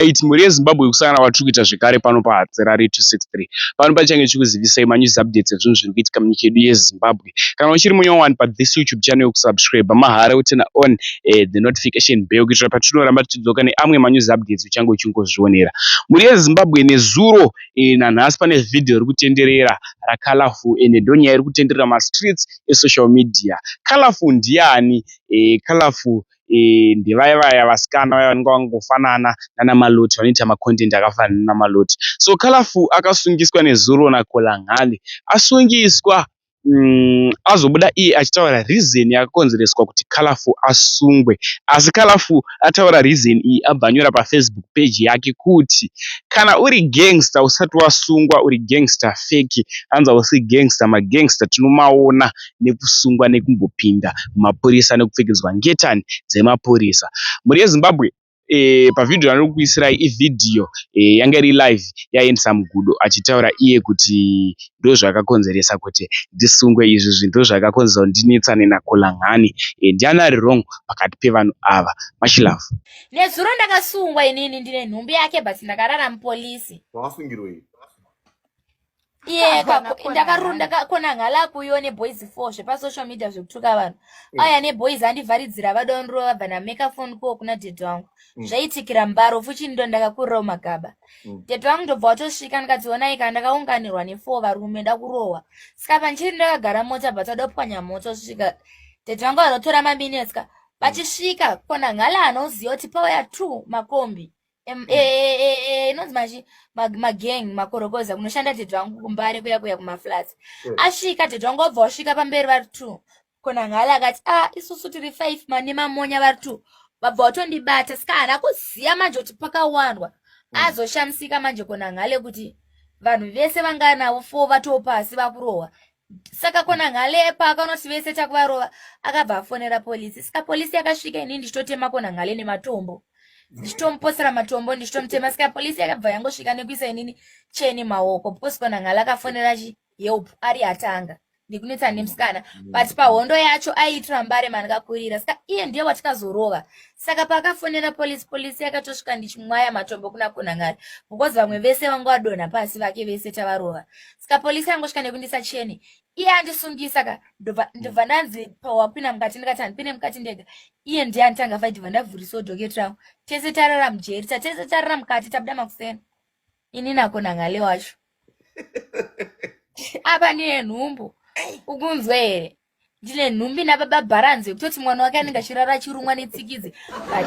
2008 mhuri yezimbabwe yekusangana kwatiri kuita zvekare pano pahatserari 263 pano pachange chikuzivisai manews updates ezvinhu zviri kuitika munyika yedu yezimbabwe kana uchiri munya wani pathis youtube channel yokusubscribe mahara utena on eh, the notification bell kuitira patinoramba tichidzoka neamwe manews updates uchange uchingozvionera mhuri yezimbabwe nezuro eh, nanhasi pane vhidhiyo iri kutenderera racolorful ende eh, ndonyaya iri kutenderera mastreets esocial media colorful ndiani eh, colorful ndevaya vaya vasikana vaya vanenge vakangofanana nana Malloti vanoita ma content akafanana nana Malloti. So Colourful akasungiswa nezuro na Kolangali. Asungiswa umm azobuda iye achitaura reason yakakonzereswa kuti Colourful asungwe. Asi Colourful ataura reason iyi abva anyora pa Facebook page yake kuti kana uri gangster usati wasungwa uri gangster fake hanzi hausi gangster ma gangster tinomaona nekusungwa nekumbopinda mumapurisa nekupfekedzwa ngetani dzemapurisa. Mhuri yeZimbabwe pavideo yandiri kukuisirai ivideo yanga iri live yaendesa mugudo achitaura iye kuti ndozvakakonzeresa kuti ndisungwe izvi zvinhu ndozvakakonzeresa kuti ndinetsane naKolangani. Ndiani ari wrong pakati pevanhu ava? Much love. Nezuro ndakasungwa inini ndine nhumbi yake but ndakarara mupolisi. Wasungirwei? iye ndakakona ngala kuyo neboys four zvepasocial media zvekutuka vanhu mm. aya neboys andivharidzira vadonrova vabva nameka fon kuwo kuna dede wangu mm. zvaitikira mbaro fuchini ndo ndakakurirawo magaba mm. dede wangu ndobva watosvika ndikadziona ika ndakaunganirwa nefour varume ndakurohwa ska panchiri ndakagara mota but adopwanya moto svika dede wangu anotora maminetska vachisvika kona ngala anoziva kuti pauya two makombi Em- eh, eh, eh, eh, inonzi machi ma- magang makorokoza kunoshanda tete wangu kumbare kuya kuya kumaflats Mm. asvika tete wangu wabva wasvika pamberi vari two konanghala akati ah isusu tiri five mane mamonya vari two vabva watondibata saka haana kuziva manje kuti pakawandwa Mm. azoshamisika manje konanghale kuti vanhu vese vanganavo four vatoo pasi vakurohwa saka kona ngale paakanoti vese takuvarova akabva afonera polisi saka polisi yakasvika ini ndichitotema kona ngale nematombo ndichitomuposera matombo ndichitomutema saka polisi yakabva yangosvika nekuisa inini cheni maoko because kona ngale akafonera chi help ari atanga ndikunetsa nemusikana mm. but pahondo yacho aiitira mbare mandikakurira saka iye ndiye watikazorova saka paakafonera polisi polisi yakatosvika ndichimwaya matombo kuna kunangari because vamwe vese vanga vadonha pasi vake vese tavarova ska polisi yangosvika nekundisa chene iye andisungisa ka ndobva ndanzi pawapina mukati ndikati handipine mukati ndega iye ndiye anditanga fai ndibva ndavhurisawo doket rangu tese tarara mujeri tatese tarara mukati tabuda makuseni ini nako nangale wacho apa ndine nhumbu ukunzwe here ndine nhumbi nababa bharanzi yekutoti mwana wake anenge achirara achirumwa netsikidzi but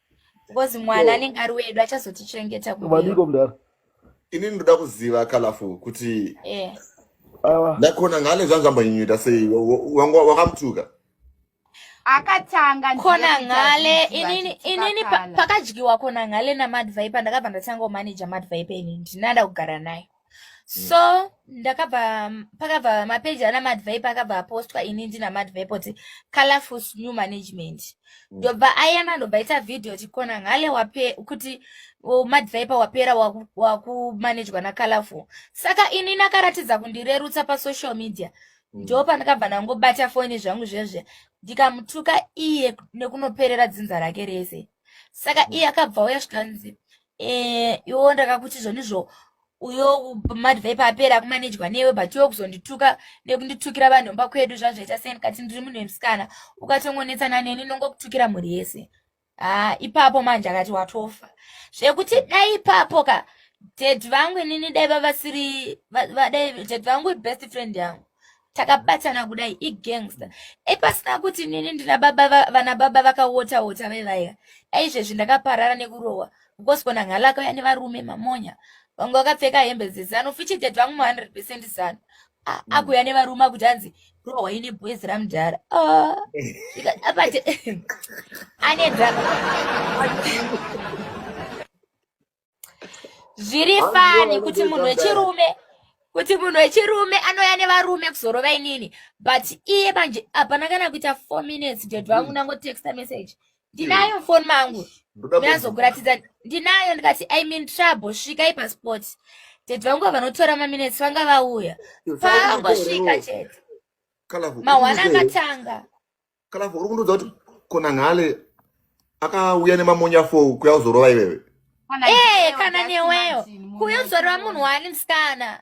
because mwana anenge ari wedu achazotichengeta kuvaniko mdara ini ndinoda kuziva kalafu kuti eh. ndakona ngane zvanga zvambanyinyuta sei wakamutuka akatanga kona ngale inini inini pakadyiwa kona ngale namadvaipa ndakabva ndatanga kumanaja madvaipa inini ndinada kugara naye Mm. so ndakabva pakabva mapeji ana madvipe akabva apostwa ini ndina madvipe kuti colorful new management mm. ndobva mm. ayana ndobva ita video tikona ngale wape kuti madvipe wapera wakumanejwa waku nacolorful saka ini nakaratidza kundirerutsa pasocial media mm. ndo pandakabva ndangobata foni zvangu zvezve ndikamutuka iye nekunoperera dzinza rake rese saka mm. iye akabva uya zvikanzi Eh, iwo ndakakuti zvonizvo uyo madhivha ipapera akumanejwa newe but iwo kuzondituka nekunditukira vanhu mba kwedu zvazvaita sei ndikati ndiri munhu wemusikana ukatongonetsana neni nongokutukira mhuri yese haa ipapo manje akati watofa zvekuti dai ipapo ka dad vangu inini dai vavasiri dai dad vangu ibest friend yangu takabatana kudai igangster epasina kuti nini ndina baba vana baba vakawota wota vevaya aizvezvi ndakaparara nekurohwa because kona nghalaka yani varume mamonya vamwe vakapfeka hembe dzezano fichided vangu ma 100 percent zano mm. akuya nevarume akuti hanzi rohwa ine boys ramudhara ah. apati ane drama zviri fani kuti munhu wechirume kuti munhu wechirume anouya nevarume kuzorova inini but iye manje hapana kana kuita four minutes dad vangu ndangotexta mm. message ndinayo mufoni mangu ndazokuratidza ndinayo ndikati i mean trouble svikai pasport dad vangu vavanotora maminutes vanga vauya pangosvika chete mahwana akatanga kana uri kundiudza kuti kona nhale akauya nemamonya fou kuya uzorova iwewe ee kana newewo kuya uzorova munhu waani musikana